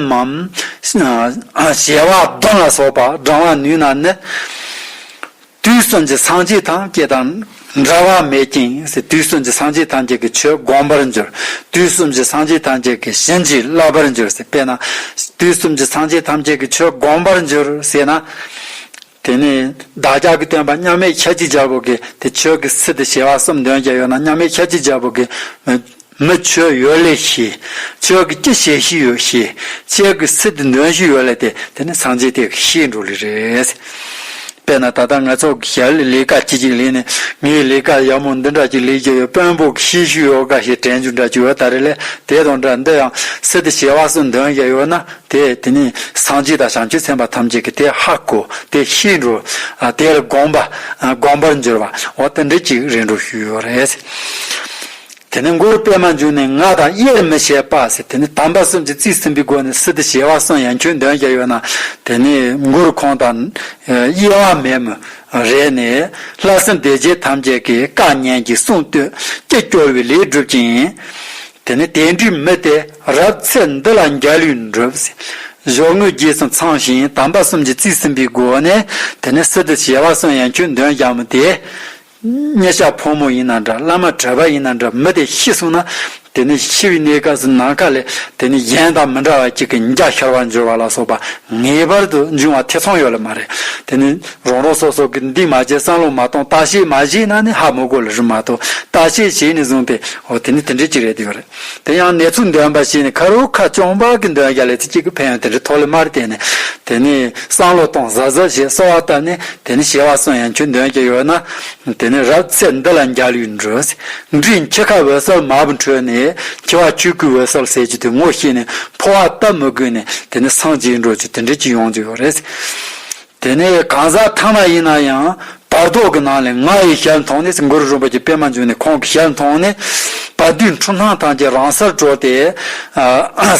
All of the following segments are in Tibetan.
མམ། བྱེ་བ་གདོན་ལ་སོགས་པ་བགྲང་བར་ནུས་ན་ནི། དུས་གསུམ་གྱི་སངས་རྒྱས་ཐམས་ཅད་དང་འདྲ་བ་མེད་ཅིང་དུས་གསུམ་གྱི་སངས་རྒྱས་ཐམས་ཅད་ཀྱི་ཆོས་བསྒོམ་པར་འགྱུར། དུས་གསུམ་གྱི་སངས་རྒྱས་ཐམས་ཅད་ཀྱི་བྱིན་གྱིས་བརླབ་པར་འགྱུར། དཔེར་ན། དུས་གསུམ་གྱི་སངས་རྒྱས་ཐམས་ཅད་ཀྱི་ཆོས་བསྒོམ་པར་འགྱུར་ཞེ་ན། དེ་ནས་བདག་ཅག་གི་སྟོན་པ་མཉམ་མེད་ཁྱད་ཅི་བྱ་བུ་གིས་དེ་ཆོས་ཀྱི་སི་ཏི་བྱེ་བ་གསུམ་འདོན་བརྒྱ་ཡོད་ན་མཉམ་མེད་ཁྱད་ཅི་བྱ་བུ་གིས། མི་ཆོས་ཡོད་ལས་ཤི། ཆོས་ཀྱི་སྐྱི་བྱེད་བཞི་ཡོད་ཤི། ཆོས་ཀྱི་སི་ཏི་འདོན་བཞི་ཡོད་ལས་ཏེ་དེ་ནི་སངས་རྒྱས་དེ་གི་ཤིའི་འགྲོ་ལས་རེད། དཔེར་ན་ད་ལྟ་ང་ཚོ་གི་ཞལ་ལས་ལས་ཀ་ཅི་ཅིག་ལས་ནས་ངའི་ལས་ཀ་ཡག་མོ་འདི་འདྲ་ཅིག་ལས་རྒྱུ་ཡོད་དཔོན་པོ་གི་ཤིའི་ཤུལ་ཡོད་དགའ་ཞིག་དྲན་རྒྱུ་འདྲ་ཅིག་ཡོད་ད་རེ་ལས་དེ་དང་འདྲ་འདི་ཡང་སི་ཏི་བྱེ་བ་གསུམ་འདོན་བརྒྱ་ཡོད་ན་དེ་དེ་ནས་སངས་རྒྱས་དང་བྱང་ཆུབ་སེམས་དཔའ་ཐམས་ཅད་ཀྱི་དེ་ཧ་གོ་དེ་ཤི་འགྲོ། དེ་ལ་དགོངས་པ་དགོངས་པར་འགྱུར་བ་འོ་དེ་འདི་ཅིག་རིགས་འགྲོ་ཞུས་ཡོད་རེད། དེ་ནས་མགུར་པད་མ་འབྱུང་ནས་ང་དང་དབྱེར་མི་ཕྱེད་པ་ཟེར་དེ་ནས་དམ་པ་གསུམ་གྱི་རྩིས་ཟིན་པའི་སྒོ་ནས་སི་ཏི་བྱེ་བ་གསུམ་ཡང་ཁྱོད་འདོན་བྱ་ཡོད་ན་དེ་ནས་མགུར་ཁོང་དང་དབྱེ་བ་མེད་མོད་རེད་ནས་ལྷ་སྲིན་སྡེ་བརྒྱད་ཐམས་ཅད་ཀྱི་བཀའ་ཉན་གྱིས་གསུང་བསྟོད་ཀྱིས་སྐྱོར་བའི་ལས་བསྒྲུབ་ཅིང། དེ་ནས་དེ་འདྲའི་མི་དེ། རབ་ཚེ་འདི་ལ་འཇའ་ལུས་འགྲུབ། ཞོགས་དངོས་རྒྱས་སུ་འཚང་ཞིང་དམ་པ་གསུམ་གྱིས་བརྩིས་ཟིན་པའི་སྒོ་ནས་དེ་ནས་སི་ཏུ་བྱེ་བ་གསུམ་ཡང་ཁྱོད་འདོན་བྱ་མོ་དེ། གཉེན་ཞག་ཕོ་མོ་ཡིན་ན་འདྲ་བླ་མ་གྲོད་པ་ཡིན་ན་འདྲ་མི་དེ་ཤི་སོང་ན་དེ་ནས་ཤི་བའི་གནས་སྐབས་སུ་ནམ་མཁའ་ལས་དེ་ནས་གཞན་དང་མི་འདྲ་བ་གཅིག་གི་འཇའ་ཤར་བར་འགྱུར་བ་ལ་སོགས་པ་ངེས་པར་དུ་འབྱུང་བ་ཐེ་ཚོམ་ཡོད་ལ་མ་རེད་དེ་ནི་རང་རང་སོ་སོ་གིས་འདིས་མ་བྱས་བསམ་བློ་མ་གཏོང་བརྟག་དཔྱད་མ་བྱས་ན་ནི་ཧ་མོ་དགོད་ལ་རུ་མ་གཏོགས་བརྟག་དཔྱད་བྱས་ནས་བཟུང་སྟེ་འོ་དེ་ནི་དེ་འདྲའི་གཅིག་རེད་དེ་ཡོད་རེད། དེ་ཡང་ནེ་ཙོའི་འདོན་པ་ཞིག་ནི་ཁ་རུ་ཁ་ཅོང་བག་གི་འདོན་བརྒྱ་ལས་ཚིག་གཅིག་གི་ཕན་ཡོན་དེ་འདྲའི་ཐོག་ལས་མར་བསྟན་ནས་དེ་ནི་སང་ལོ་སྟོང་གཟག་གཟག་ཞེས་གསོལ་བ་བཏབ་ནས་དེ་ནི་བྱེ་བ་གསུམ་ཡན་ཆོད་འདོན་བརྒྱ་ཡོད་ན་དེ་ནི་རབ་ཚེས་འདི་ལ་འཇའ་ལུས་འགྲོས་འབྲིང་འཁྱིལ་ཁ་འོད་གསལ་མ་བུ་འཕྲོས་ནས་འཁྱིལ་བ་ཆོས་སྐུའི་འོད་གསལ་གསལ་གྱི་དུས་ངོ་ཤེས་ནས་འཕོ་བ་ལྟ་མི་དགོས་ནས་དེ་ནི་སངས་རྒྱས་འགྲོ་ཆོས་དེ་འདྲའི་ཅི་ཡོང་རྒྱུ་ཡོད་རེད། དེ་ནས་གང་ཟག་ཐ་མ་ཡིན་ན་ཡང་བར་དོ་གི་ནང་ལས་ང་ཡི་ཞལ་མཐོང་ནས་གུ་རུ་རིན་པོ་ཆེ་པད་མ་འབྱུང་གནས་ཁོང་གི་ཞལ་མཐོང་ནས་བ་དུས་འཁྲུངས་སྣང་ཐང་ཆེན་རང་སར་གྲོལ་ཏེ།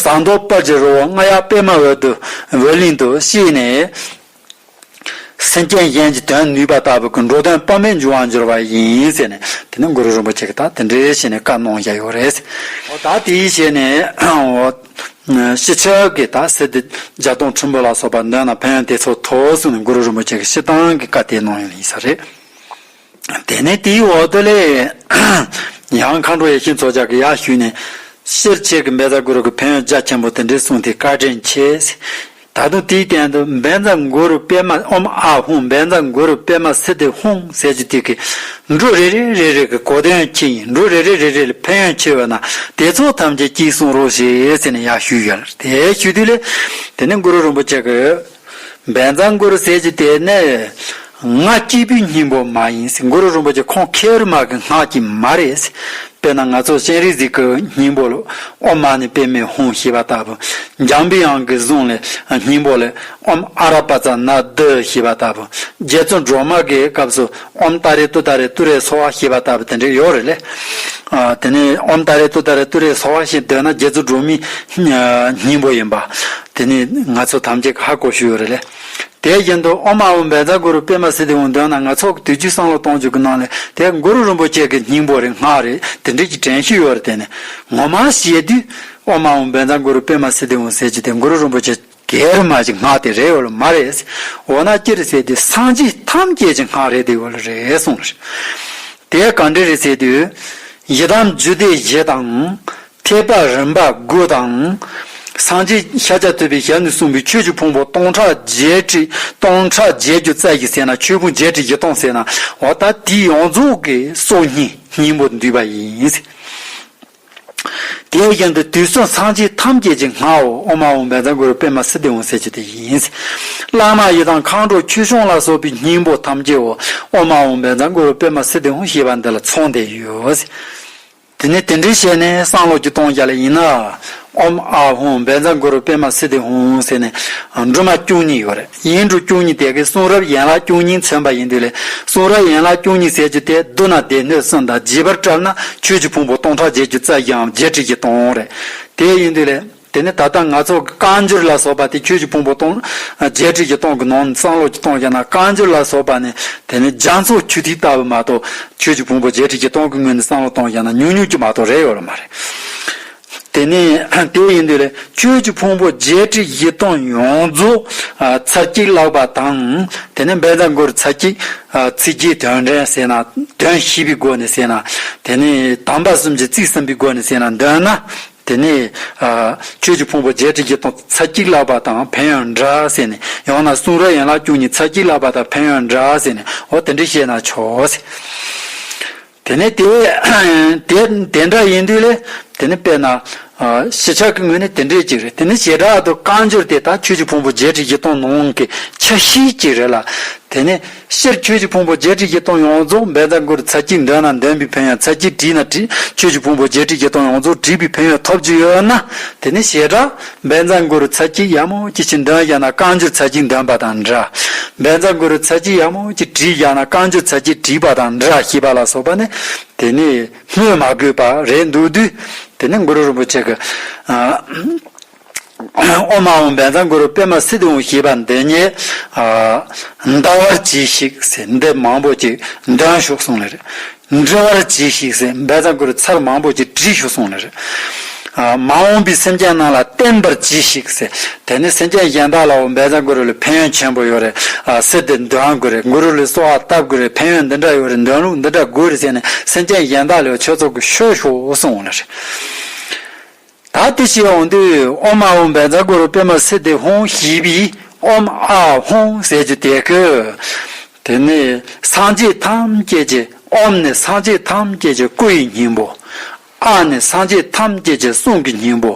ཟངས་མདོག་དཔལ་གྱི་རི་བོ་རྔ་ཡག་པད་མ་འོད་དུ་འོད་གླིང་དུ་གཤེགས་ནས། སེམས་ཅན་གཞན་གྱི་དོན་ནུས་པ་ལྟ་བུ་གྱི་འགྲོ་དོན་དཔག་མེད་འབྱུང་བར་འགྱུར་བ་ཡིན་ཟེར་ནས་དེ་ནས་གུ་རུ་རིན་པོ་ཆེ་གིས་ད་དེ་འདྲའི་ཞེས་ནས་བཀའ་གནང་བཞག་ཡོད་རེད། འོ་ད་དེའི་ཞེས་ནས། ཤེས་བྱ་གི་དག་སེལ་དེ་བརྒྱ་སྟོང་ཁྲི་འབུམ་ལ་སོགས་པར་འདོན་ན་ཕན་དེ་ཚོ་ཐོག་གསུངས་ནས་གུ་རུ་རིན་པོ་ཆེ་གི་ཤེས་སྟངས་ཀྱི་བཀའ་དེའི་ནང་ཡོད་ཡིན་ས་རེད། དེ་ནས་དེའི་འོག་ཏུ་ལས་ཡང་མཁའ་འགྲོ་ཡེ་ཤེས་མཚོ་ལྗགས་ཀྱི་ཡར་ཞུས་ནས། ཤེར་ཕྱིན་གྱི་འབེལ་ཟ་གུ་རུ་གི་ཕན་ཡོན་རྒྱ་ཆེན་པོ་དེ་འདྲའི་གསུངས་ཏེ་བཀའ་དྲིན་ཆེ། ད་དུང་དེའི་སྟེང་དུ་འབན་ཛ་མགོ་རུ་པད་མ་ཨོམ་ཨ་ཧུང་འབན་ཛ་མགོ་རུ་པད་མ་སི་ཏི་ཧུང་ཟེར་གྱི་དུས་ཀྱི་འབྲུ་རེ་རེ་རེ་རེ་གི་གོ་དོན་ཡང་གཅིག་ཡིན་འབྲུ་རེ་རེ་རེ་རེ་ལ་ཕན་ཡོན་ཆེ་བས་ན་དེ་ཚོ་ཐམས་ཅད་གཅིག་གསུང་རོགས་ཞེས་ཟེར་ནས་ཡང་ཞུས་ཡོད་དེ་ཞུས་དུས་ལས་དེ་ནས་གུ་རུ་རིན་པོ་ཆེ་གིས། འབན་ཛ་མགོ་རུ་ཟེར་གྱི་དེ་ནི། སྔགས་སྐྱེས་བུའི་སྙིང་པོ་མ་ཡིན་སྲིད་གུ་རུ་རིན་པོ་ཆེ་ཁོང་ཁེ་ཨུར་མ་གི་སྔགས་ཀྱིས་མ་རེད། དཔེར་ན་ང་ཚོ་སྤྱན་རས་གཟིགས་ཀྱི་སྙིང་པོ་ལ་ཨོ་མ་ནི་པད་མའི་ཧཱུྃ་ཞེས་པ་ལྟ་བུ། འཇམ་པའི་དབྱངས་ཀྱི་གཟུངས་ལས་སྙིང་པོ་ལས་ཨོམ་ཨ་ར་པ་ཙཱ་ན་རྡི་ཞེས་པ་ལྟ་བུ། རྗེ་བཙུན་སྒྲོལ་མ་གི་སྐབས་སུ་ཨོམ་ཏཱ་རེ་ཏུ་ཏཱ་རེ་ཏུ་རེ་སོ་བྷ་ཞེས་པ་ལྟ་བུ་དེ་འདྲ་ཡོད་རེད་ལེ། དེ་ནས་ཨོམ་ཏཱ་རེ་ཏུ་ཏཱ་རེ་ཏུ་རེ་སོ་བྷ་ཞེས་འདོད་ན་རྗེ་བཙུན་སྒྲོལ་མའི་སྙིང་པོ་ཡིན་པ། དེ་ནི་ང་ཚོ་ཐམས་ཅད་ཀྱི་ཧ་གོ་ཤོས་ཡོད་རེད་ལེ། དེའི་རྒྱན་དུ་ཨོ་མ་ཨོ་འབལ་ཟླ་གུ་རུ་པད་མ་སི་ཏི་འོ་འདོན་ན་ནག་ཚོགས་ཀྱི་དུས་ཀྱི་སང་ལོ་སྟོང་བཅུ་གྱི་ནང་ལས་དེ་གུ་རུ་རིན་པོ་ཆེ་གི་སྙིང་པོ་རེད་སྔགས་རེད་དེ་འགྲིག་གི་དྲན་ཤེས་ཡོད་རེད་དེ་ནས་ངོ་མ་ཤེས་དུས་ཨོ་མ་ཨོ་འབལ་ཟླ་གུ་རུ་པད་མ་སི་ཏི་འོ་ཟེར་གྱི་དེ་གུ་རུ་རིན་པོ་ཆེ་གའི་རིན་མ་གྱི་སྔགས་དེ་རེད་ཡོད་ལ་མ་རེད་ཟེར་འོ་ན་ཅི་རེད་ཟེར་དུས་སངས་རྒྱས་ཐམས་ཅད་ཀྱི་སྔགས་རེད་དེ་ཡོད་ལ་རེད་གསུངས་ལ། དེ་ག་འདྲ་རེད་ཟེར་དུས། ཡི་དམ་རྒྱུད་སྡེ་བཞི་དང། ཁྱད་འཕགས་རིམ་པ་དགུ་དང། སངས་རྒྱས་ཤཱཀྱ་ཐུབ་པའི་ཞལ་ནས་གསུངས་པའི་ཆོས་ཀྱི་ཕུང་པོ་སྟོང་ཕྲག་བརྒྱད་ཁྲི་སྟོང་ཕྲག་བརྒྱད་ཀྱི་རྩ་གཞི་ཟེར་ན་ཆོས་ཕུང་བརྒྱད་ཁྲི་བཞི་སྟོང་ཟེར་ན་འོ་ད་དེའི་ཡོངས་རྫོགས་ཀྱི་སྲོག་སྙིང་སྙིང་པོ་འདུས་པ་ཡིན། དེ་བཞིན་དུ་དུས་གསུམ་སངས་རྒྱས་ཐམས་ཅད་ཀྱི་སྔགས་འོག་ཨོ་མ་འོང་བན་དང་གུ་རུ་པད་མ་སི་ཏི་འོང་ཟེར་གྱི་དེ་ཡིན། བླ་མ་ཡི་དམ་མཁའ་འགྲོ་ཁྱུ་ཆུང་ལ་སོགས་པའི་སྙིང་པོ་ཐམས་ཅད་འོག་ཨོ་མ་འོང་བན་དང་གུ་རུ་པད་མ་སི་ཏི་འོང་ཞེས་པ་འདི་ལ་མཚུངས་ལྡན་ཡོད། དེ་ནས་དེ་འདྲའི་བཤད་ནས་སང་ལོགས་ཀྱི་སྟོང་བརྒྱ་ལ་ཡིན་ན། ཨོམ་ཨ་ཧོང་བན་ཛམ་གུ་རུ་པད་མ་སི་ཏི་ཧོང་ཟེར་ནས་འབྲུ་མ་བཅུ་གཉིས་ཡོད་རེད་ཡིན་འབྲུ་བཅུ་གཉིས་དེ་གའི་གསུང་རབ་ཡན་ལག་བཅུ་གཉིས་མཚོན་པ་ཡིན་དུས་ལས་གསུང་རབ་ཡན་ལག་བཅུ་གཉིས་ཟེར་རྒྱུ་དེ་བསྡུ་ན་སྡེ་སྣོད་གསུམ་དང་བརྗེས་པར་བཀྲལ་ན་ཆོས་ཀྱི་ཕུང་པོ་སྟོང་ཕྲག་བརྒྱད་ཅུ་རྩ་བཞི་འམ་བརྒྱད་ཁྲི་བཞི་སྟོང་རེད་དེ་ཡིན་དུས་ལས། དེ་ནས་ད་ལྟ་ང་ཚོ་རྐང་སྦྱོར་ལ་སོགས་པ་དེ་ཁྱོད་ཀྱི་ཕུང་པོ་སྟོང། བརྒྱད་ཁྲི་ཀྱི་སྟོང་གི་ནང་ནས་སང་ལོགས་ཀྱི་སྟོང་བཤད་ན་རྐང་སྦྱོར་ལ་སོགས་པ་ནི་དེ་ནི་རྒྱ་མཚོ་ཆུ་ཐིགས་ལྟ་བུ་མ་གཏོགས་ཁྱོད་ཀྱི་ཕུང་པོ་བརྒྱད་ཁྲི་ཀྱི་སྟོང་གི་ངོས་ནས་སང་ལོགས་སྟོང་བཤད་ན་ཉུག་ཉུག་གི་མ་གཏོགས་རེ་ཡོད་ལ་མ་རེད། དེ་ནས་དེ་ཡིན་དུས་ལས་ཁྱོད་ཀྱི་ཕུང་པོ་བརྒྱད་ཁྲི་ཡི་སྟོང་ཡོངས་རྫོགས་ཚར་གཅིག་བཀླགས་པ་དང། དེ་ནས་འབད་འདང་སྒོར་ཚར་གཅིག་ཚིག་བརྒྱའི་དོན་དྲན་བསྲེས་ན་དོན་བཞི་པའི་སྒོ་ནས་བསྲེས་ན་དེ་ནས་དམ་པ་གསུམ་གྱི་ཚིག་གསུམ་པའི་སྒོ་ནས་བསྲེས་ན་འདོད་ན། དེ་ནས། ཆོས་ཀྱི་ཕུང་པོ་བརྒྱད་ཁྲི་བརྒྱད་སྟོང་ཚ་གཅིག་ལག་པ་དང་བན་ཡང་འདྲ་ཟེར་ནས་ཡང་ན་གསུང་རབ་ཡན་ལག་བཅུ་གཉིས་ཚ་གཅིག་ལག་པ་དང་བན་ཡང་འདྲ་ཟེར་ནས་འོ་དེ་འདྲས་བཤད་ན་ཆོག་ཟེར། དེ་ནས་དེ་དེ་འདྲ་ཡིན་དུས་ལས། དེ་ནི་དཔེར་ན། ཞི་ཆགས་ཀྱི་ངོས་ནས་དེ་འདྲས་ཅིག་རེད་དེ་ནི་བྱེ་བྲག་ཏུ་བཀའ་འགྱུར་དེ་དག་ཆོས་ཀྱི་ཕུང་པོ་བརྒྱད་ཁྲི་བརྒྱད་སྟོང་ནང་གི་ཆ་ཤས་ཅིག་རེད་ལ། དེ་ནི། ཤེར་ཁྱོད་ཀྱི་ཕུང་པོ་བརྒྱད་ཁྲི་བརྒྱད་སྟོང་ཡོངས་རྫོགས་འབད་དང་གུར་ཚར་གྱིས་འདོན་ན་འདོན་པའི་ཕན་ཡོན་ཚར་གྱིས་བྲིས་ན་བྲིས་ཁྱོད་ཀྱི་ཕུང་པོ་བརྒྱད་ཁྲི་བརྒྱད་སྟོང་ཡོངས་རྫོགས་བྲིས་པའི་ཕན་ཡོན་ཐོབ་རྒྱུ་ཡོད་ན་དེ་ནི་བྱེ་བྲག་འབད་དང་གུར་ཚར་གྱིས་ཡབ་མོ་ཀྱི་ཆེད་འདོན་བཞག་ན་བསྐངས་གྱུར་ཚར་གྱིས་འདོན་པ་དང་འདྲ། འབད་དང་གུར་ཚར་གྱིས་ཡབ་མོ་ཀྱི་བྲིས་བཞག་ན་བསྐངས་གྱུར་ཚར་གྱིས་བྲིས་པ་དང་འདྲ་ཞེས་པ་ལ་སོགས་པ་ནི་དེ་ནི་སྨོས་མ་དགོས་པ་རེད་འདུག་དུས་དེ་ནས་གུ་རུ་རིན་པོ་ཆེ་གིས། ཨོ་མ་འོང་འབན་ཚང་གུ་རུ་པད་མ་སི་ཏུ་འོང་ཞེས་པ་འདི་ཉིད། འདའ་བར་གྱིས་ཤིག་ཟེར་འདི་མང་པོ་ཅིག་འདོན་བཞུགས་གསུངས་ལེ། འབྲི་བར་གྱིས་ཤིག་ཟེར་འབན་ཚང་གུ་རུ་ཚར་མང་པོ་ཅིག་བྲིས་བཞུགས་གསུངས་ལེ། མ་འོངས་པའི་སེམས་ཅན་རྣམས་ལ་བསྟན་པར་གྱིས་ཤིག་ཟེར་དེ་ནས་སེམས་ཅན་གཞན་དག་ལའོ་འབན་ཚང་གུ་རུ་ལས་ཕན་ཡོན་ཆེན་པོ་ཡོད་རེད་སེར་འདི་འདོན་དགོས་རེད་གུ་རུ་ལས་སོ་ཨ་བཏབ་དགོས་རེད་ཕན་ཡོན་འདི་འདྲ་ཡོད་རེད་འདོན་ལུགས་འདི་འདྲ་དགོས་རེད་ཟེར་ནས་སེམས་ཅན་གཞན་དག་ལའོ་ཆོས་ཚོགས་ཀྱི་ཤོག་ཞུའོ་གསུངས་ལེ། ད་དེ་ཞིག་འོང་དུས་ཨོམ་ཨ་འོམ་བས་འཛག་གུ་རུ་པདྨ་སི་ཏི་ཧོང་ཞེས་པའི་ཨོམ་ཨ་ཧོང་ཟེར་རྒྱུ་དེ་གོ། དེ་ནི་སངས་རྒྱས་ཐམས་ཅད་ཀྱི་ཨོམ་ནི་སངས་རྒྱས་ཐམས་ཅད་ཀྱི་སྐུ་ཡི་སྙིང་པོ། ཨ་ནི་སངས་རྒྱས་ཐམས་ཅད་ཀྱི་གསུང་གི་སྙིང་པོ།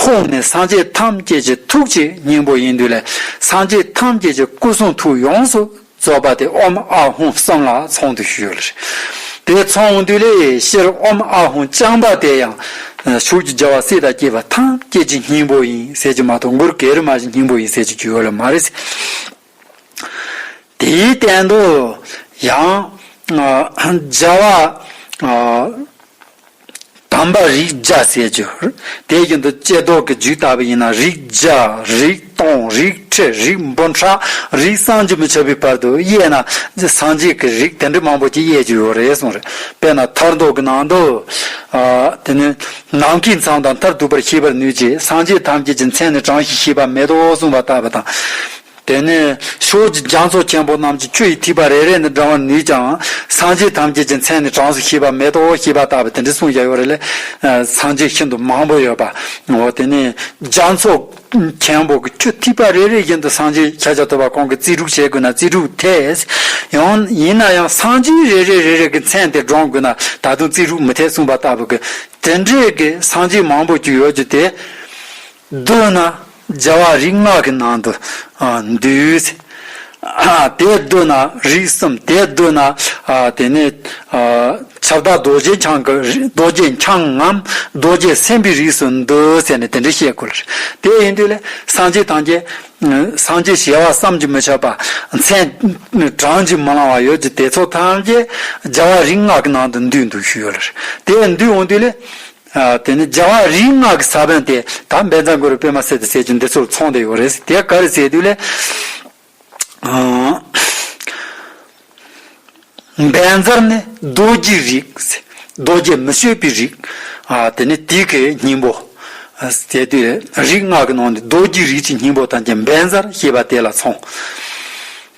ཧོང་ནི་སངས་རྒྱས་ཐམས་ཅད་ཀྱི་ཐུགས་ཀྱི་སྙིང་པོ་ཡིན་དུས་ལས་སངས་རྒྱས་ཐམས་ཅད་ཀྱི་སྐུ་གསུང་ཐུགས་ཡོངས་སུ་རྩོད་པ་དེ་ཨོམ་ཨ་ཧུང་གསང་སྔགས་ཚོང་འདུས་ཞུས་ཡོད་ལ། དེའི་ཚོང་འདུས་ལས་ཤེར་ཨོམ་ཨ་ཧུང་རྐྱང་པ་དེ་ཡང་བྱུགས་ཀྱི་རྒྱལ་བ་སྲས་དང་སྐྱེས་པ་ཐམས་སྐྱེས་ཀྱི་སྙིང་པོ་ཡིན་ཟེར་གྱི་མ་གཏོགས་མགུར་གེར་མ་གཞི་སྙིང་པོ་ཡིན་ཟེར་གྱི་རྒྱུ་ཡོད་ལ་མ་རེད། དེའི་སྟེང་དུ་ཡང་རྒྱལ་བ། དམ་པ་རིགས་བརྒྱ་ཟས་སྦྱོར། དེའི་རྒྱུན་དུ་ལྕེ་ལྡོག་གི་རྒྱུད་བཏགས་པ་ཡིན་ན་རིགས་བརྒྱ། རིགས་སྟོང། རིགས་ཁྲི། རིགས་འབུམ་ཕྲག། རིགས་སངས་རྒྱས་མི་ཆོད་པའི་བར་དུ་དབྱེ་ན། སངས་རྒྱས་ཀྱི་རིགས་དེ་འདྲ་མང་པོ་ཅིག་དབྱེ་རྒྱུ་ཡོད་རེད་གསུངས། དཔེར་ན་ཐར་མདོ་གི་ནང་དུ། དེ་ནི། ནམ་མཁའི་མཚམས་དང་མཐར་ཐུག་པར་ཤེས་པར་ནུས་ཀྱི་སངས་རྒྱས་ཐམས་ཅད་ཀྱི་མཚན་ནི་གྲངས་ཤིག་ཤེས་པ་མེད་དོ་གསུངས་པ་ལྟ་བུ་དང། དེ་ནས་ཕྱོགས་ཀྱི་རྒྱ་མཚོ་ཆེན་པོ་རྣམས་ཀྱི་ཆུ་ཡི་ཐིགས་པ་རེ་རེ་ནི་འདྲ་བར་ནུས་ཀྱང་སངས་རྒྱས་ཐམས་ཅད་ཀྱི་མཚན་ནི་གྲངས་སུ་ཤེས་པ་མེད་དོ་ཞེས་པ་ལྟ་བུ་དེ་འདྲའི་གསུང་བཞག་ཡོད་རེད། སངས་རྒྱས་ཤིན་ཏུ་མང་པོ་ཡོད་པ་འོ་དེ་ནས་རྒྱ་མཚོ་ཆེན་པོ་གི་ཆུ་ཐིགས་པ་རེ་རེ་བཞིན་དུ་སངས་རྒྱས་ཁྱེད་ཅག་ཐུབ་པ་གང་གི་རྩིས་དྲུག་བྱེད་དགོས་ན་རྩིས་དྲུག་འཐད། ཡང་ཡིན་ན་ཡང་སངས་རྒྱས་རེ་རེ་རེ་རེ་གི་མཚན་དེ་བགྲང་དགོས་ན་ད་དུང་རྩིས་དྲུག་མི་འཐད་གསུངས་པ་ལྟ་བུ་གི་དེ་འདྲའི་གི་སངས་རྒྱས་མང་པོ་ཅིག་ཡོད་རྒྱུ་དེ། བསྡུ་ན་རྒྱལ་བ་རིགས་ལྔ་གི་ནང་དུ་འདུས། དེ་བསྡུ་ན་རིགས་གསུམ་དེ་བསྡུ་ན་དེ་ནས་ཁྱབ་བདག་རྡོ་རྗེ་འཆང་གི་རྡོ་རྗེ་འཆང་ངམ་རྡོ་རྗེ་སེམས་དཔའི་རིགས་སུ་འདུ་ཟེར་ནས་དེ་འདྲ་བཤད་དགོས་ལ། དེ་ཡིན་དུས་ལས་སངས་རྒྱས་དང་རྒྱས། སངས་རྒྱས་ཞེས་བ་བསམ་གྱིས་མི་ཁྱབ་པ་མཚན་བགྲང་གྱིས་མི་ལང་བ་ཡོད་ཀྱི་དེ་ཚོ་ཐམས་ཅད་རྒྱལ་བ་རིགས་ལྔ་གི་ནང་དུ་འདུས་འདུག་ཞུས་ཡོད་ལ། དེ་འདུས་འོང་དུས་ལས། དེ་ནི་རྒྱལ་བ་རིག་སྔགས་ཀྱི་ས་བོན་ཏེ་ད་འབད་རྩ་འགོ་རུ་པད་མ་སེ་དང་སེ་ཆུན་འདི་ཚོར་ཚོང་དུ་ཡོད་རེད་དེ་ག་རེ་ཟེར་དུས་ལས། འབད་རྩར་ནི་རྡོ་རྗེ་རིགས། རྡོ་རྗེ་མི་བསྐྱོད་པའི་རིགས། དེ་ནི་དེ་གའི་སྙིང་པོ། ཟེར་དུས་ལས། རིག་སྔགས་ཀྱི་ནང་ནས་རྡོ་རྗེ་རིགས་ཀྱི་སྙིང་པོ་དང་བཅས་འབད་རྩར་ཞེས་པ་དེ་ལ་ཚོང།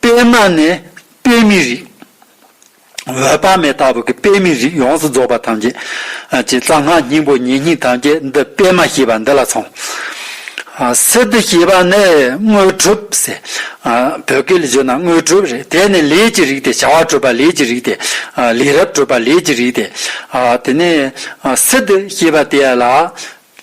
དཔེར་ན་ནས་དཔེ་མི་རིག། འོད་དཔག་མེད་ལྟ་བུ་གི་དཔེ་མི་རིག་ཡོངས་སུ་རྫོགས་པ་ཐམས་ཅད་ཀྱི་རྩ་སྔགས་སྙིང་པོ་ཉེ་སྙིང་ཐམས་ཅད་འདི་དཔེ་མ་ཞེས་པ་འདི་ལ་མཚུངས། སི་ཏུ་ཞེས་པ་ནི་དངོས་གྲུབ་ཟེར། བོད་སྐད་ལ་བརྗོད་ན་དངོས་གྲུབ་རེད་དེ་ནི་ལས་ཀྱི་རིགས་ཏེ་བྱ་བ་གྲུབ་པ་ལས་ཀྱི་རིགས་ཏེ། ལས་རབ་གྲུབ་པ་ལས་ཀྱི་རིགས་ཏེ། དེ་ནས་སི་ཏུ་ཞེས་པ་དེ་ལ་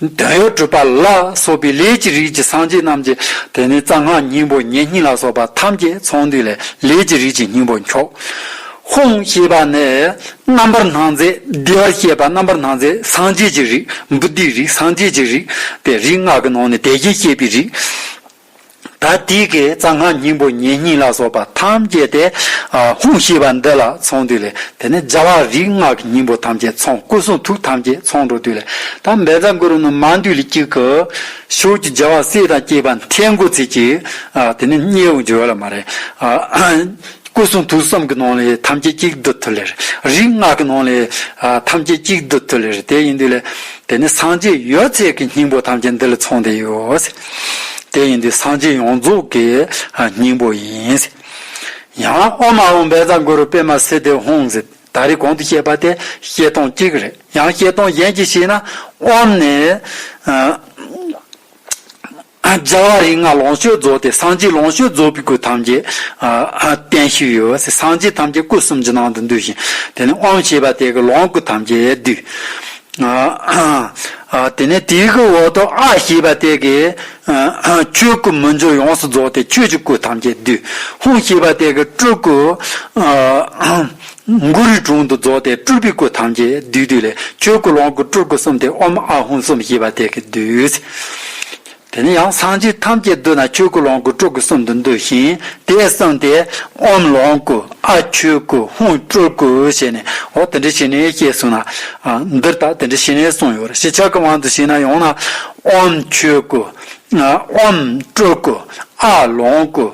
འདོད་ཡོན་སྤྲུལ་པ་ལ་སོགས་པའི་ལས་ཀྱི་རིགས་ཀྱི་སངས་རྒྱས་རྣམས་ཀྱི་དེ་ནས་རྩ་སྔགས་སྙིང་པོ་ཉེ་སྙིང་ལ་སོགས་པ་ཐམས་ཅད་ཚོགས་འདུས་ལས་ལས་ཀྱི་རིགས་ཀྱི་སྙིང་པོ་འཁྱོག། ཧཱུྃ་ཞེས་པ་ནས། རྣམ་པར་སྣང་མཛད་བདེ་བར་གཤེགས་པ་རྣམ་པར་སྣང་མཛད་སངས་རྒྱས་ཀྱི་རིགས་བུདྡྷིའི་རིགས་སངས་རྒྱས་ཀྱི་རིགས་ཏེ་རིགས་སྔགས་ཀྱི་ནང་ནས་དེ་བཞིན་གཤེགས་པའི་རིགས། ད་དུས་ཀྱི་རྩ་སྔགས་སྙིང་པོ་ཉེ་སྙིང་ལ་སོགས་པ་ཐམས་ཅད་དེ་ཧཱུྃ་ཞེས་པ་འདི་ལ་ཚོང་དུས་ལས་དེ་ནས་སྦྱར་བ་རིགས་སྔགས་ཀྱི་སྙིང་པོ་ཐམས་ཅད་ཚོང་སྐུ་གསུང་ཐུགས་ཐམས་ཅད་ཚོང་འགྲོ་དུས་ལས་ད་འབད་རྩ་འགུ་རུ་ནི་མ་འདུས་ལས་གཅིག་གི། ཞོགས་ཀྱི་སྦྱར་བ་བསེ་དང་སྐྱེས་པ་མཐའི་མགོ་ཚིགས་གཅིག། དེ་ནས་སྙེ་ཨུ་འཇོལ་ལ་མ་རེ། སྐུ་གསུང་ཐུགས་གསུམ་གྱི་ནང་ལས་ཐམས་ཅད་གཅིག་འདི་དུས་ལས་རེ། རིགས་སྔགས་ཀྱི་ནང་ལས་ཐམས་ཅད་གཅིག་འདི་དུས་ལས་རེ་དེ་ཡིན་དུས་ལས། དེ་ནས་སངས་རྒྱས་ཡོད་ཚད་ཀྱི་སྙིང་པོ་ཐམས་ཅད་འདི་ལ་ཚོང་དུས་ཡོད། དེ་ཡིན་ཏེ་སངས་རྒྱས་ཡོངས་རྫོགས་ཀྱི་སྙིང་པོ་ཡིན། ཡང་ཨོ་མ་ཧོ་འབེ་ཛ་གུ་རུ་པེ་མ་སི་དེ་ཧོང་ཛི་ད་རི་གོང་དུ་བཤད་པ་དེ་བཤད་སྟངས་གཅིག་རེད་ཡང་བཤད་སྟངས་གཞན་གཅིག་ཤེས་ན་ཨོམ་ནས་རྒྱལ་བ་རིགས་ལྔ་ལོངས་སྤྱོད་རྫོགས་ཏེ་སངས་རྒྱས་ལོངས་སྤྱོད་རྫོགས་པའི་སྐུ་ཐམས་ཅད་བསྟན་ཞིག་ཡོད་ཟེར་སངས་རྒྱས་ཐམས་ཅད་སྐུ་གསུམ་གྱི་ནང་དུ་འདུས་ཤིང་དེ་ནས་ཨོམ་ཞེས་པ་དེ་གི་ལོངས་སྐུ་ཐམས་ཅད་བསྡུས། དེ་ནས་དེའི་སྐུའི་འོག་ཏུ་ཨ་ཞེས་པ་དེ་གའི་ཆོས་སྐུ་མི་འགྱུར་ཡོངས་སུ་རྫོགས་ཏེ་ཆོས་ཀྱི་སྐུ་ཐམས་ཅད་བསྡུས། ཧཱུྃ་ཞེས་པ་དེ་གའི་སྤྲུལ་སྐུ་མགུ་རུའི་དྲུང་དུ་རྫོགས་ཏེ་སྤྲུལ་པའི་སྐུ་ཐམས་ཅད་བསྡུས། ཆོས་སྐུ་ལོངས་སྐུ་སྤྲུལ་སྐུ་གསུམ་སྟེ་ཨོམ་ཨ་ཧཱུྃ་གསུམ་ཞེས་པ་དེ་གའི་བསྡུས། དེ་ནས་ཡང་སངས་རྒྱས་ཐམས་ཅད་འདུས་ན་ཆོས་སྐུ་ལོངས་སྐུ་སྤྲུལ་སྐུ་གསུམ་དུ་འདུས་ཤིང་དེས་གསུངས་ཏེ། ཨོམ་ལོངས་སྐུ་ཨ་ཆོས་སྐུ་ཧཱུྃ་སྤྲུལ་སྐུ་ཞེས་ནས་འོ་དེ་འདྲའི་ཞི་གནས་ཞེས་གསུངས་ན། འདིར་ད་དེ་འདྲའི་ཞི་གནས་གསུངས་ཡོད་རེད་ཞེས་ཕྱག་གི་དབང་དུ་བྱས་ན་ཡང་ན། ཨོམ་ཆོས་སྐུ། ཨོམ་སྤྲུལ་སྐུ། ཨ་ལོངས་སྐུ།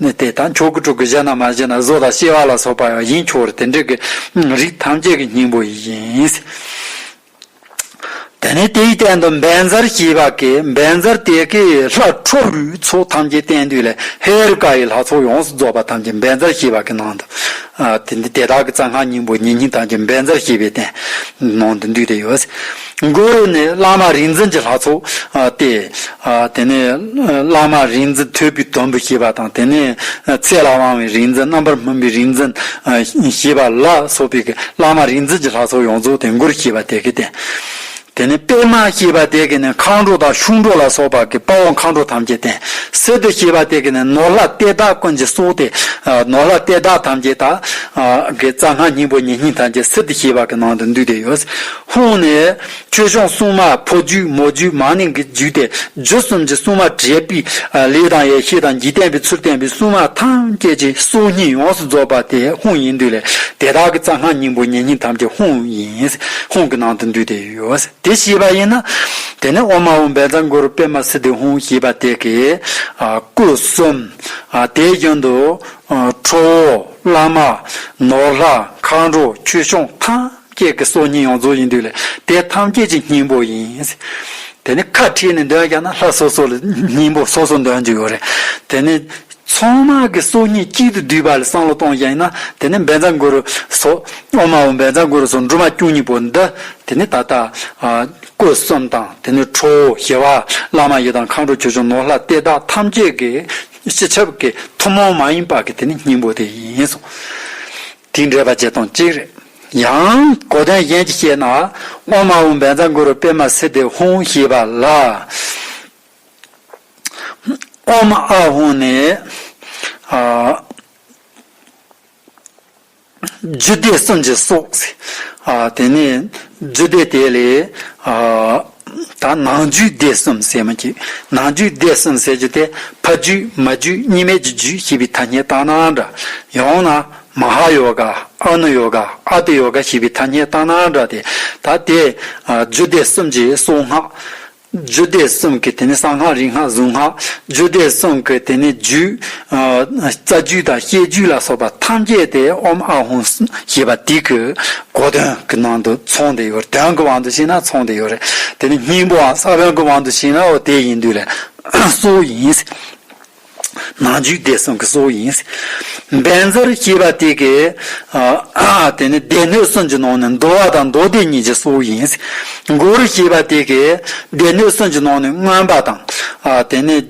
ནི་དེ་དང་མཆོག་གི་དྲུག་གི་གཞི་ན་མ་བཞི་ན་བཟོ་དང་ཤེས་བ་ལ་སོགས་པ་ཡང་ཡིན་ཆོག་དེ་འདྲི་གི་རིགས་ཐམས་ཅད་ཀྱི་སྙིང་པོ་ཡིན། དེ་ནས་དེའི་སྟེང་དུ་འབན་གཟར་ཞེས་པ་ཀའི་འབན་གཟར་དེ་ཀའི་ལྷ་ཁྲོ་བོའི་ཚོགས་ཐམས་ཅད་བསྟན་དུས་ལས་ཧེ་རུ་ཀ་ཡི་ལྷ་ཚོགས་ཡོངས་སུ་རྫོགས་པ་ཐམས་ཅད་འབན་གཟར་ཞེས་པ་ཀའི་ནང་དུ་དེ་དག་གི་རྩ་སྔགས་སྙིང་པོ་ཉེ་སྙིང་ཐམས་ཅད་འབན་གཟར་ཞེས་པའི་སྟེང་ནང་དུ་འདུས་ཏེ་ཡོད། མགོ་ཡོད་ནི་བླ་མ་རིག་འཛིན་གྱི་ལྷ་ཚོགས་ཏེ། དེ་ནས་བླ་མ་རིག་འཛིན་ཐོད་པའི་དོམ་བུ་ཞེས་པ་དང་དེ་ནས་ཚེ་ལ་དབང་བའི་རིག་འཛིན་རྣམ་པར་སྨིན་པའི་རིག་འཛིན་ཞེས་པ་ལ་སོགས་པའི་བླ་མ་རིག་འཛིན་གྱི་ལྷ་ཚོགས་ཡོངས་རྫོགས་དེ་མགོར་ཞེས་པ་དེ་ཀའི་སྟེ། དེ་ནས་པད་མ་ཞེས་པ་དེ་ཀའི་ནི་མཁའ་འགྲོ་དང་ཤུགས་འགྲོ་ལ་སོགས་པ་ཀྱི་དཔའ་བོ་མཁའ་འགྲོ་ཐམས་ཅད་དེ། སི་ཏུ་ཞེས་པ་དེ་ཀའི་ནི་ནོར་ལྷ་གཏེར་བདག་ཀུན་གྱི་སྲོག་སྟེ། ནོར་ལྷ་གཏེར་བདག་ཐམས་ཅད་དག་གི་རྩ་སྔགས་སྙིང་པོ་ཉེ་སྙིང་ཐམས་ཅད་སི་ཏུ་ཞེས་པ་ཀྱི་ནང་དུ་འདུས་ཏེ་ཡོད། ཧཱུྃ་ནས། ཆོས་སྐྱོང་སྲུང་མ་ཕོ་རྒྱུད་མོ་རྒྱུད་མ་ནིང་གི་རྒྱུད་དེ་རྒྱུད་གསུམ་གྱི་སྲུང་མ་དྲེགས་པའི་ལས་དང་ཡེ་ཤེས་དང་རྒྱུད་བསྟན་པའི་ཚུལ་བསྟན་པའི་སྲུང་མ་ཐམས་ཅད་ཀྱི་སྲོག་སྙིང་ཡོངས་སུ་རྫོགས་པ་དེ་ཧཱུྃ་ཡིན་འདུས་ལས་དེ་དག་གི་རྩ་སྔགས་སྙིང་པོ་ཉེ་སྙིང་ཐམས་ཅད་ཧཱུྃ་ཡིན། ཧཱུྃ་གི་ནང་དུ་འདུས་ཏེ་ཡོད། དེ་ཤེས་པ་ཡིན་ན། དེ་ནས་ཨོ་མ་ཧཱུྃ་འབེན་ཚང་གུ་རུ་པད་མ་སིདྡྷི་ཧཱུྃ་ཞེས་པ་དེ་གའི་སྐུ་གསུམ། དེའི་རྒྱུན་དུ། ཁྲོ་བོ། བླ་མ། ནོར་ལྷ། མཁའ་འགྲོ། ཆོས་སྐྱོང་ཐམས། སྐྱེས་ཀྱི་སྲོག་སྙིང་ཡོངས་རྫོགས་ཡིན་དུས་ལ་དེ་ཐམས་ཅད་ཀྱི་སྙིང་པོ་ཡིན། དེ་ནི་ཁ་ཁྲིད་ནས་འདོན་ཀྱང་ན་ལྷ་སོ་སོ་ལ་སྙིང་པོ་སོ་སོ་འདོན་གྱི་ཡོད་རེད། དེ་ནི་ཚོང་དམག་གི་སྲོག་སྙིང་གཅིག་ཏུ་བསྡུས་པ་ལ་བསམ་བློ་གཏོང་རྒྱ་ཡིན་ན་དེ་ནི་འབེན་རྫ་མགོ་རུ་སོགས་ཨོ་མ་འོ་འབེན་རྫ་མགོ་རུ་སོགས་འབྲུ་མ་བཅུ་གཉིས་པོ་འདི་དེ་ནི་ད་ལྟ་སྐུ་གསུམ་དང་དེ་ནི་ཁྲོ་བོ་ཞི་བ་བླ་མ་ཡི་དམ་མཁའ་འགྲོ་ཆོས་སྐྱོང་ནོར་ལྷ་སྟེ་བདག་ཐམས་ཅད་ཀྱི་སྤྱི་ཁྱབ་ཀྱི་ཐུན་མོང་མ་ཡིན་པ་ཀྱི་དེ་ནི་སྙིང་པོ་དེ་ཡིན། དེའི་འགྲེལ་པ་བརྒྱད་སྟོང་གཅིག་རེད། ཡང། གོ་དོན་གཞན་གྱིས་བཤད་ན། དབང་མ་འོངས་པའི་མཚམས་དགུ་རུ་པདྨ་སི་ཏི་ཧཱུྃ་ཞེས་པ་ལ། དབང་མ་ཨ་འོངས་ནས། རྒྱུད་སྡེ་གསུམ་གྱི་སོགས། དེ་ནས་རྒྱུད་སྡེ་དེ་ལས། ད་ནང་རྒྱུད་སྡེ་གསུམ་གསལ་མ་གྱིས་ནང་རྒྱུད་སྡེ་གསུམ་གསལ་རྒྱུ་དེ་ཕ་རྒྱུད་མ་རྒྱུད་གཉིས་མེད་ཀྱི་རྒྱུད་ཞེས་པའི་ཐ་སྙད་བཏགས་ནའང་འདྲ། ཡང་ན། མ་ཧཱ་ཡོ་ག། ཨ་ནུ་ཡོ་ག། ཨ་ཏི་ཡོ་ག་ཞེས་པའི་ཐ་སྙད་བཏགས་ནའང་འདྲ་སྟེ། ད་དེས། རྒྱུད་སྡེ་གསུམ་གྱི་གསུང་སྔགས། རྒྱུད་སྡེ་གསུམ་གྱི་དེ་ནི་གསང་སྔགས་རིག་སྔགས་གཟུངས་སྔགས། རྒྱུད་སྡེ་གསུམ་གྱི་དེ་ནི་རྒྱུད། རྩ་རྒྱུད་དང་བཤད་རྒྱུད་ལ་སོགས་པ་ཐམས་ཅད་དེ་ཨོམ་ཨ་ཧུ་ཞེས་པ་འདི་གི་གོ་དོན་གྱི་ནང་དུ་ཚོང་དེ་ཡོད་རེད་དོན་གྱི་དབང་དུ་བྱས་ན་ཚོང་དེ་ཡོད་རེད་དེ་ནས་སྙིང་པོའང་ས་བོན་གྱི་དབང་དུ་བྱས་ན་འོ་དེ་ཡིན་དུས་ལས་གཙོ་བོ་ཡིན། ནང་རྒྱུད་སྡེ་གསུམ་གྱི་གཙོ་བོ་ཡིན། སྦེན་ཛར་ཞེས་པ་དེ་གི་དེ་ནི་སྡེ་སྣོད་གསུམ་གྱི་ནང་ནས་འདུ་བ་དང་མདོ་སྡེ་གཉིས་ཀྱི་གཙོ་བོ་ཡིན། མགུར་ཞེས་པ་དེ་གི་སྡེ་སྣོད་གསུམ་གྱི་ནང་ནས་མངོན་པ་དང་དེ་ནི།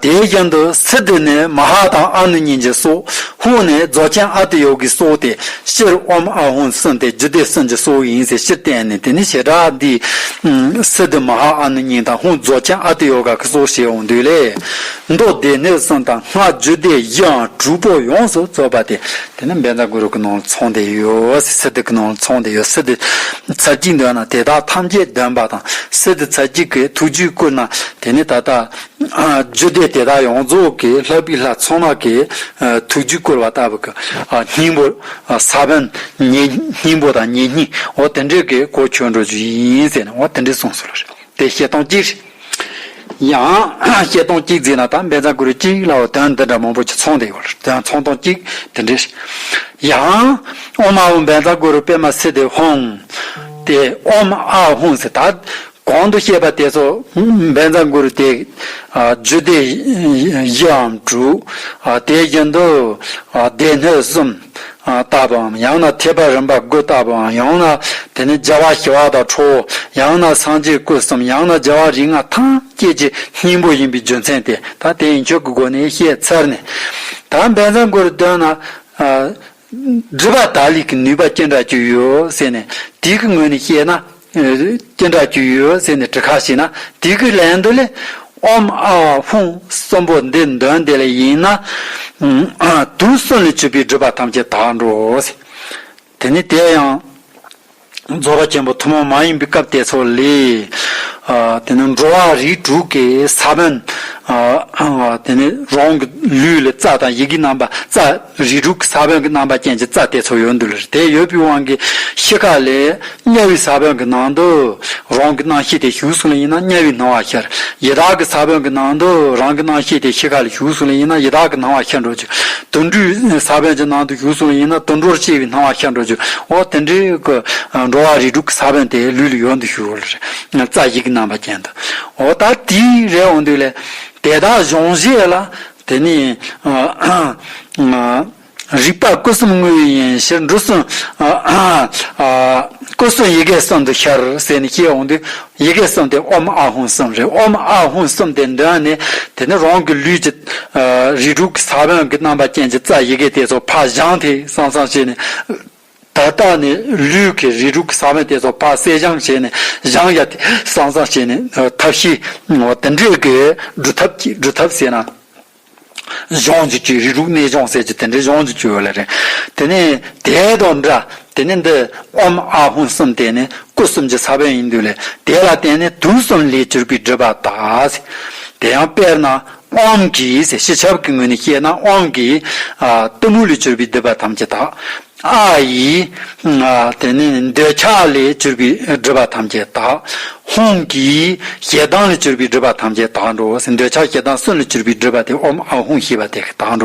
དེའི་རྒྱན་དུ་སི་ཏི་ནི་མ་ཧཱ་དང་ཨ་ནུ་གཉིས་ཀྱི་སྲོག། ཧཱུྃ་ནི་རྫོགས་ཆེན་ཨ་ཏི་ཡོ་གིའི་སྲོག་སྟེ་ཤེར་དབང་ཨ་ཧོ་གསུམ་སྟེ་རྒྱུད་སྡེ་གསུམ་གྱི་སྲོག་ཡིན་ཟེར་ཕྱིར་བསྟན་ནས་དེ་ནི་བྱེ་བྲག་འདིས། སི་ཏི་མ་ཧཱ་ཨ་ནུ་གཉིས་དང་ཧཱུྃ་རྫོགས་ཆེན་ཨ་ཏི་ཡོ་ག་གི་སྲོག་ཞེས་འོང་དུས་ལས། མདོ་སྡེ་སྣོད་གསུམ་དང་སྔགས་རྒྱུད་སྡེ་བཞིའང་དྲུག་པོ་ཡོངས་སུ་རྫོགས་པ་སྟེ་དེ་ནི་འབེན་ཚ་གུ་རུ་ཀུན་སྣང་ཚོང་དེ་ཡོད་སྲིད་སི་ཏི་ཀུན་སྣང་ཚོང་དེ་ཡོད་སྲིད་དེ་ཚར་གཅིག་འདོན་ན་དེ་དག་ཐམས་ཅད་འདོན་པ་དང་སྲིད་དེ་ཚར་གཅིག་གིས་ཐུགས་རྒྱུད་བསྐུར་ན་དེ་ནི་ད་ལྟ་རྒྱུད་སྡེ་དེ་དག་ཡོངས་རྫོགས་ཀྱི་ལྷ་བུའི་ལྷ་ཚོང་ལགས་ཀྱིས་ཐུགས་རྒྱུད་བསྐུར་བ་ལྟ་བུ་གི་སྙིང་པོ་ས་བོན་ཉིད་སྙིང་པོ་དང་ཉིད་སྙིང་འོ་དེ་འདྲས་ཀྱི་སྐོར་བྱོན་འགྲོ་རྒྱུ་ཡིན་ཟེར་ནས་འོ་དེ་འདྲས་གསུངས་སོང་ལ། དེ་བཤད་སྟངས་གཅིག། ཡང། བཤད་སྟངས་གཅིག་འཛིན་ན་ད་འབད་རྩ་དགོས་རིགས་གཅིག་ལ་འོ་དོན་འདི་འདྲ་མང་པོ་ཆ་ཚང་དེ་ཡོད་རེད་ཚང་སྟངས་གཅིག་དེ་འདྲས། ཡང། ཨོ་མ་ཨོ་འབད་རྩ་དགོས་རུ་པེ་མ་སི་དེ་ཧོང། དེ་ཨོ་མ་ཨ་ཧོང་ཟེར་ད། གོང་དུ་བཤད་པ་དེ་ཚོ་འབད་རྩ་དགོས་རུ་དེ། རྒྱུ་དེ་བཞི་འམ་དྲུག། དེའི་རྒྱུན་དུ། སྡེ་སྣོད་གསུམ། བཏགས་པའམ་ཡང་ན་ཐེག་པ་རིམ་པར་བསྒོས་བཏགས་པའང་ཡང་ན་དེ་ནི་རྒྱལ་བ་ཞི་བ་དང་ཁྲོ་བོ་ཡང་ན་སངས་རྒྱས་སྐུ་གསུམ་ཡང་ན་རྒྱལ་བ་རིགས་ལྔ་ཐམས་ཅད་ཀྱི་སྙིང་པོ་ཡིན་པའི་རྒྱུ་མཚན་དེ་དང་དེ་ཡིན་ཆོས་ཀྱི་སྒོ་ནས་བཤད་ཚར་ནས། ད་འབད་འཛམ་གོ་རུ་འདོན་ན། སྒྲིབ་པ་དག་ལས་ཀྱི་ནུས་པ་ཅི་འདྲ་བཅུག་ཡོད་ཟེར་ནས་དུས་ཀྱི་ངོས་ནས་བཤད་ན་སྐྱེ་འགྲོ་རྒྱུས་ཡོད་ཟེར་ནས་བྲི་ཁ་ཞིག་ན་དེ་གི་ལན་དུ་ལས་ཨོམ་ཨ་ཧྥུང་གསུམ་པོ་འདི་འདོན་དེ་ལས་ཡིན་ན་དུ་གསུམ་ལས་བྱུས་པའི་སྒྲུབ་པ་ཐམས་ཅད་དག་འགྲོ་ཟེར། དེ་ནི་དེ་ཡང་རྫོགས་རོགས་ཆེན་པོ་ཐུན་མོང་མ་ཡིན་པའི་སྐབས་དེ་ཚོ་ལས། དེ་ནི་འགྲོ་བ་རིགས་དྲུག་གི་ས་བོན། དེ་ནི་རང་གི་ལུས་ལས་རྩ་དང་ཡི་གེ་རྣམ་པ་རྩ། རིགས་དྲུག་གི་ས་བོན་གྱི་རྣམ་པ་ཅན་གྱི་རྩ་དེ་ཚོ་ཡོད་འདུག་ལར་དེ་ཡོད་པའི་དབང་གིས་ཤི་ཁ་ལས། དམྱལ་བའི་ས་བོན་གྱི་ནང་དུ། རང་གི་སྣང་ཤེས་དེ་ཞུགས་སོང་ལ་ཡིན་ན་དམྱལ་བའི་སྣང་བ་ཤར། ཡི་དྭགས་ཀྱི་ས་བོན་གྱི་ནང་དུ། རང་གི་སྣང་ཤེས་དེ་ཤི་ཁ་ལས་ཞུགས་སོང་ལ་ཡིན་ན་ཡི་དྭགས་ཀྱི་སྣང་བ་ཤར་འགྲོ་རྒྱུ། དུད་འགྲོའི་ས་བོན་གྱི་ནང་དུ་ཞུགས་སོང་ལ་ཡིན་ན་དུད་འགྲོར་སྐྱེ་བའི་སྣང་བ་ཤར་འགྲོ་རྒྱུ། འོ་དེ་འདྲའི། འགྲོ་བ་རིགས་དྲུག་གི་ས་བོན་དེ་ལུས་ལ་ཡོད་འདུག་ཞུ་ལ། རྩ་བཞི་གི་རྣམ་པ་ཅན་དུ། འོ་ད་དེའི་རེ་འོང་འདུག་ལས། དེ་དག་གཞུང་བཞེས་ལ། དེ་ནས། རིག་པ་སྐུ་གསུམ་དངོས་ཡིན་ཡིན་ཕྱིར་འབྲུ་གསུམ། སྐུ་གསུམ་ཡི་གེ་གསུམ་དུ་ཤར་ཟེར་ནས་སྐྱེས་འོང་དུས། ཡི་གེ་གསུམ་དེ་ཨོམ་ཨ་ཧུན་གསུམ་རེད་ཨོམ་ཨ་ཧུན་གསུམ་དེ་འདི་ཡང་ནི། དེ་ནི་རང་གི་ལུས་ཀྱི། རིགས་དྲུག་གི་ས་བོན་གྱི་རྣམ་པ་ཅན་གྱི་རྩ་ཡི་གེ་དེ་ཚོ་ཕ་བཞང་དེས་སང་སང་བྱས་ནས། ད་ལྟ་ནི་ལུས་ཀྱི་རིགས་དྲུག་གི་ས་བོན་དེ་ཚོ་ཕར་བསྲེས་སྦྱང་བྱས་ནས་བཞང་ཡ་དེ་སང་སང་བྱས་ནས་ཐབས་བཞི། དེ་འདྲས་ཀྱི་སྒྲུབ་ཐབས་ཀྱིས་སྒྲུབ་ཐབས་ཟེར་ན། སྦྱོང་འཇུག་ཀྱི་རིགས་དྲུག་གནས་སྦྱོང་ཟེར་གྱི་དེ་འདྲའི་སྦྱོང་འཇུག་ཀྱི་ཡོད་ལ་རེད། དེ་ནས་དེ་དང་འདྲ་དེ་ནི་འདི་ཨོམ་ཨ་ཧུན་གསུམ་དེ་ནི་སྐུ་གསུམ་གྱི་ས་བོན་ཡིན་དུས་ལས་དེ་ལ་བརྟེན་ནས་དུས་གསུམ་ལས་སྤྱིར་སྐུའི་སྒྲུབ་པ་དག། དེ་ཡང་དཔེར་ན། དབང་གིས་ཞེས་བྱ་བ་གྱི་ངོས་ནས་བཤད་ན་དབང་གིས། གཏི་མུག་ལས་གྱུར་པའི་སྒྲིབ་པ་ཐམས་ཅད་དག། ཨ་ཡིས། དེ་ནས་འདོད་ཆགས་ལས་གྱུར་པའི་སྒྲིབ་པ་ཐམས་ཅད་དག། ཧཱུྃ་གིས་ཞེ་སྡང་ལས་གྱུར་པའི་སྒྲིབ་པ་ཐམས་ཅད་དག། འདོད་ཆགས་ཞེ་སྡང་གསུམ་ལས་གྱུར་པའི་སྒྲིབ་པ་སྟེ་ཨོྃ་ཧཱུྃ་ཞེས་པ་དེ་དག།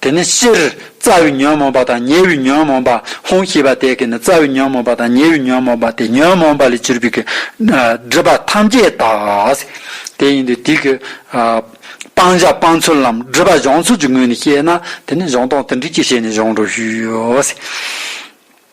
དེ་ནི་སྤྱིར་རྩ་བའི་ཉོན་མོངས་པ་དང་ཉེ་བའི་ཉོན་མོངས་པ་ཧཱུྃ་ཞེས་པ་དེ་གས་ནི་རྩ་བའི་ཉོན་མོངས་པ་དང་ཉེ་བའི་ཉོན་མོངས་པ་དེ་ཉོན་མོངས་པ་ལས་གྱུར་པའི་སྒྲིབ་པ་ཐམས་ཅད་དག། དེ་ཡིན་ཏེ་དེ་གའི་སྤང་བྱ་སྤང་ཚུལ་ལམ་སྒྲིབ་པ་སྦྱོང་ཚུལ་གྱི་ངོས་ནས་བཤད་ན་དེ་ནི་གཞུང་སྟོང་དོན་འདྲེས་ཀྱི་ཞལ་ནས་སྦྱོང་རོགས་ཞུ།